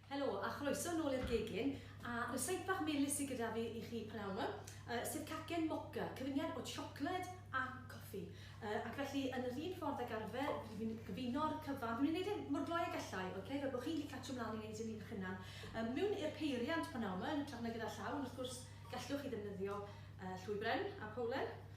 Helo, a chroeso nôl i'r gegin, a ryseit bach melys sydd gyda fi i chi p'nawn 'ma, yy sef cacen moca, cyfuniad o siocled a coffi. Yy ac felly, yn yr un ffordd ag arfer, rydw i'n gyfuno'r cyfan, dwi'n mynd i wneud e mor gloi ag allai, ok, fel bod chi'n gallu catsio mlaen i wneud hyn eich hunan. Yy mewn i'r peiriant p'nawn 'ma, yn hytrach na gyda llaw, ond wrth gwrs gallwch chi ddefnyddio yy llwy bren a powlen.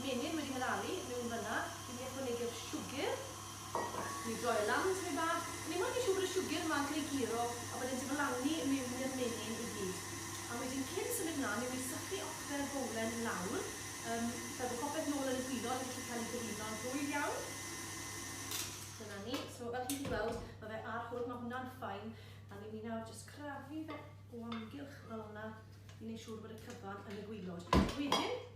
menyn wedi mynaru miwn fynna i ni ychwanegu'r siwgr. Ni droi y lan tymed bach. Ni moyn i siwgr y siwgr ma greu guro a bod e'n diflannu miwn i'r menyn i gyd. Am wedyn cyn symud mlan miwn i sychu ocfer y bowlen lawr yym fel bo popeth nôl yn y gwilod yn gallu cael ei gyfuno'n rhwydd iawn. Dyna ni. So fel chi'n gallu gweld ma fe ar hwn ma hwnna'n fine a niwn ni nawr jyst crafu fe o amgylch fel yna i neu siwr bod y cyfan yn y gwilod. Wedyn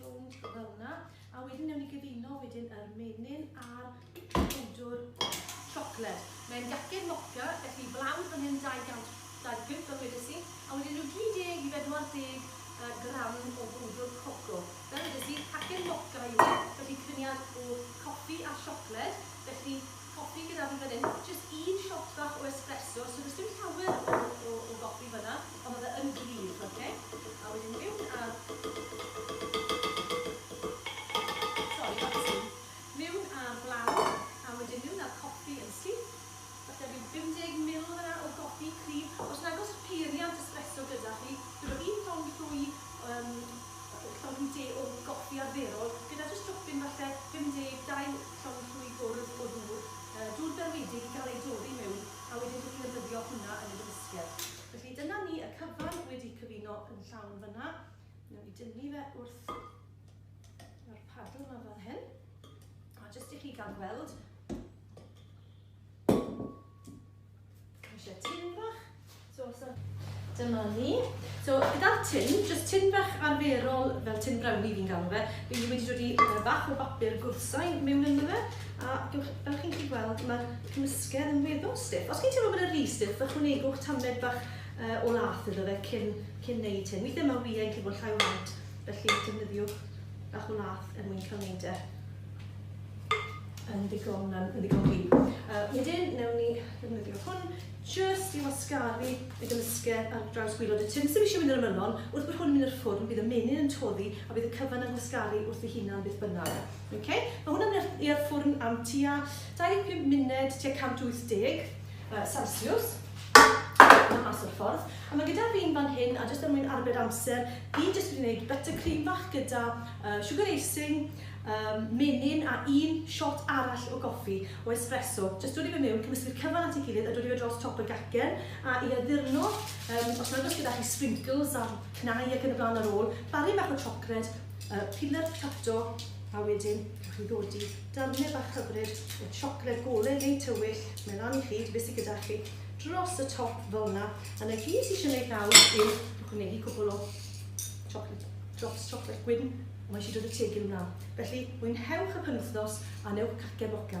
Rownd fel hwnna. A wedyn newn ni gyfuno wedyn yr menyn a'r powdwr siocled. Mae'n gacen moca, felly blawd fan hyn 200 dau pump fel wedes i, a wedyn rhyw 30 i 40 uh, gram o bwdwr coco. Fel wedes i, cacen moca yw e, felly cyniad o coffi a siocled, felly copi gyda fi fan hyn, jyst un shot bach o espresso, so does dim llawer o, o, o gopi fanna, ond oedd e yn gryf, oce? A wedyn miwn a... Sori, bach o sŵn. Miwn a'r blawd, a wedyn miwn a'r copi yn syth. Falle rhyw 50 mil fanna o gopi cryf. Os nag oes peiriant espresso gyda chi, dwi roi un llong llwy, um, llong llwy de o goffi arferol, gyda jyst dropyn falle 50, 2, Llond llwy gwrdd o ddŵr, yy dŵr garedig i gael ei dorri miwn a wedyn dw i'n defnyddio hwnna yn y gymysgedd. Felly dyna ni, y cyfan wedi cyfuno yn llawn fan'na. Newn ni dynnu fe wrth yr paddle 'ma fel hyn. A jyst i chi ga'l gweld. Eisiau tin bach. So, so, dyma ni. So, gyda'r tin, jyst tin bach arferol fel tin browni fi'n galw fe, fi wedi dod i uh, bach o bapur gwrsau mewn ynddo fe, a fel chi'n gallu gweld, mae'r cymysgedd yn weddol stiff. Os chi'n teimlo bod e'n rhi stiff, ychwanegwch tamed bach uh, o lath iddo fe cyn, cyn neud hyn. Weithiau mae wyau yn gallu bod llai o waed, felly defnyddiwch bach o lath er mwyn cael neud e. yn ddigon, yn ddigon fi. Uh, wedyn, newn ni ddefnyddio hwn just i wasgaru y gymysgedd ar draws gwylod y tun. Sef eisiau mynd i'r ymylon, wrth bod hwn yn mynd i'r ffwrn, bydd y menyn yn toddi a bydd y cyfan yn gwasgaru wrth ei hunan beth bynnag. Okay? Mae hwnna'n mynd i'r ffwrn am tua 25 munud, tua 180 uh, Celsius yn mas o'r ffordd. A mae gyda fi'n fan hyn, a jyst am mwyn arbed amser, fi jyst wedi gwneud buttercream fach gyda uh, sugar icing, Yym, menyn a un shot arall o goffi, o espresso. Jyst dod i fe miwn, cymysgu'r cyfan at ei gilydd a dod i fe dros top y gacen, a'i addurno, yym, os nag oes gyda chi sprinkles a cnau ac yn y blaen ar ôl, barri bach o siocled, yy, peanut tratto, a wedyn rhowch chi ddodi darnau bach hyfryd o siocled gole neu tywyll, mae lan i chi, be sy gyda chi, dros y top fel yna, a 'na gyd sy eisiau gwneud nawr yw ychwanegu cwpl o siocled, drops siocled gwyn Mae eisiau dod y tegyn wna. Felly, mwynhewch y penwythnos a newch cacen boca.